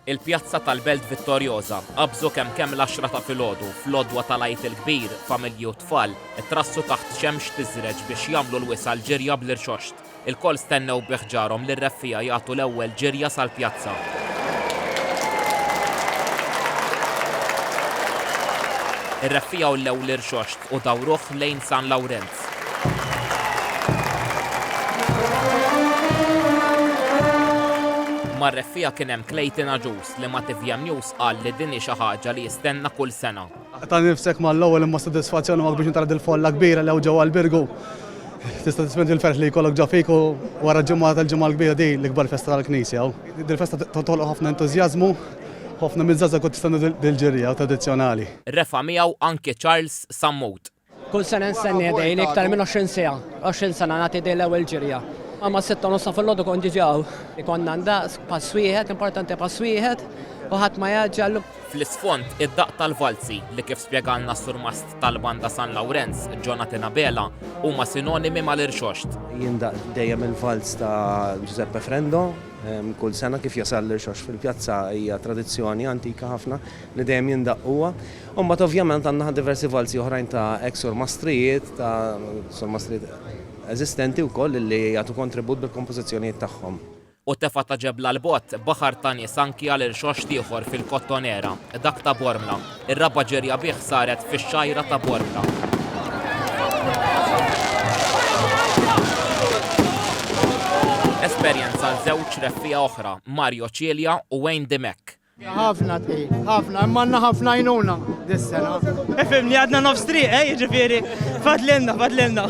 Il-pjazza tal-Belt Vittoriosa qabżu kemm kemm l-għaxra ta' filgħodu fl-għodwa tal-Għid il-Kbir, familji u tfal ittrassu taħt xemx tiżreġ biex jagħmlu l-wisa' l-ġirja bl-irxoxt. Ilkoll stennew bi ħġarhom lir-reffiegħa jagħtu l-ewwel ġirja sal-pjazza. Ir-reffiegħa wlew l-irxoxt u dawruh lejn San Lawrent. Mar-reffiegħa kien hemm Clayton Agius li ma' TVM News qal li din hi xi ħaġa li jistenna kull sena. Ta' nifsek mal-ewwel imma s-sodisfazzjon huwa kbir meta tara dil-folla kbira li hawn ġewwa l-Birgu. Tista' tispendi il-ferħ li jkollok ġo fik u wara ġimgħa tal-Ġimgħa l-Kbira din l-ikbar festa tal-Knisja hawn. Dil-festa toħloq ħafna entużjażmu u ħafna miż-żgħażagħ ukoll tistenna dil-ġirja tradizzjonali. Refa' miegħu anki Charles Sammut. Kull sena nstenni għedejli iktar minn 20 siegħa. 20 sena nagħti din l-ewwel ġirja. Imma sitta u nofsa fil-għodu kont diġà hawn. Ikonna ndaqs pass wieħed, importanti pass wieħed, u ħadd ma jgħaġġel. Fl-isfond, id-daqq tal-valzi, li kif spjegalna s-surmast tal-Banda San Lawrenz, Jonathan Abela, huma sinonimi mal-irxoxt. Jindaqq dejjem il-valz ta' Giuseppe Frendo kull sena kif jasal l-irxoxt fil-pjazza hija tradizzjoni antika ħafna li dejjem jindaqq huwa. U mbagħad ovvjament għandna diversi valzi oħrajn ta' ex surmastrijiet, ta' surmastrijiet eżistenti wkoll illi jagħtu kontribut bil-kompożizzjonijiet tagħhom. U tefa' ta' ġebla 'l bogħod, baħar ta' nies anki għal irxoxt ieħor fil-Kottonera, dak ta' Bormla. Ir-raba' ġirja bih saret fix-xgħira ta' Bormla. Esperjenza għal żewġ reffiegħa oħra, Mario Cilia u Wayne Dimech. Ħafna tqil, ħafna, imma għandna ħafna jnuna dis-sena. Ifimni għadna nofs triq, eh, jiġifieri, fadlinna, fadlinna.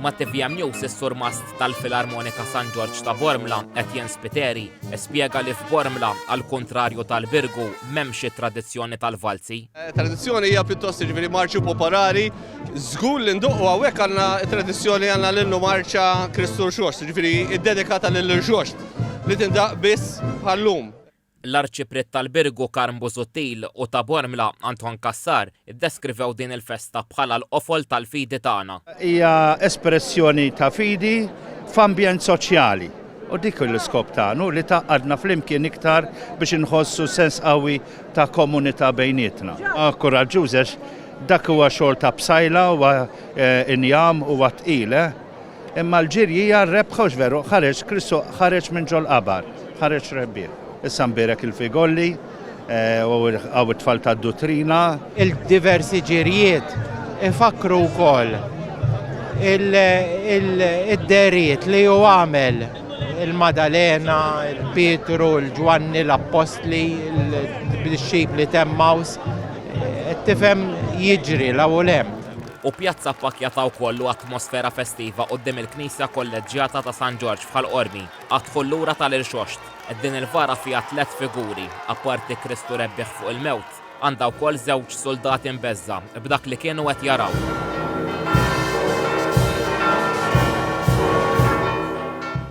Ma' TVM News is-surmast tal-Filarmonika San Ġorġ ta' Bormla, Etienne Spiteri, spjega li f'Bormla, għal kontrarju tal-Virgu, m'hemmx it-tradizzjoni tal-valzi. Eh, tradizzjoni hija pjuttost jiġifieri marċu popolari, żgur li nduqqu hawnhekk għandna tradizzjoni għandna l-innu marċa Kristu Xox, jiġifieri ddedikata lil Xox li tindaq biss bħallum. L-Arċipriet tal-Birgu Karm Busuttil u ta' Bormla Anton Cassar iddeskrivew din il-festa bħala l-qofol tal-fidi tagħna. Hija espressjoni ta' fidi f'ambjent soċjali u dik hu l-iskop tagħna, hu li tgħaqqadna flimkien iktar biex inħossu sens qawwi ta' komunità bejnietna. Kuraġġuż għax dak huwa xogħol ta' bsajla, huwa injam, huwa tqil, eh! Imma l-ġirjija r-rebħ għax veru ħareġ Kristu ħareġ minn ġol-qabar, ħareġ rebbieħ. Issa nbierek il-figolli u hawn it-tfal tad-duttrina. Il-diversi ġirjiet ifakkru wkoll id-dehriet li hu għamel, il-Madalena, il-Pietru, il-Ġwanni, l-Appostli, il-dixxipli t'Emmaws, qed tifhem jiġri 'l hawn u 'l hemm. u pjazza appakkjata wkoll u atmosfera festiva quddiem il-Knisja Kolleġġjata ta' San Ġorġ f'Ħal Qormi, għad-dħul lura tal-Irxoxt. Din il-vara fiha tliet figuri, apparti Kristu rebbieħ fuq il-mewt, għandha wkoll żewġ suldati mbeżżgħa b'dak li kienu qed jaraw.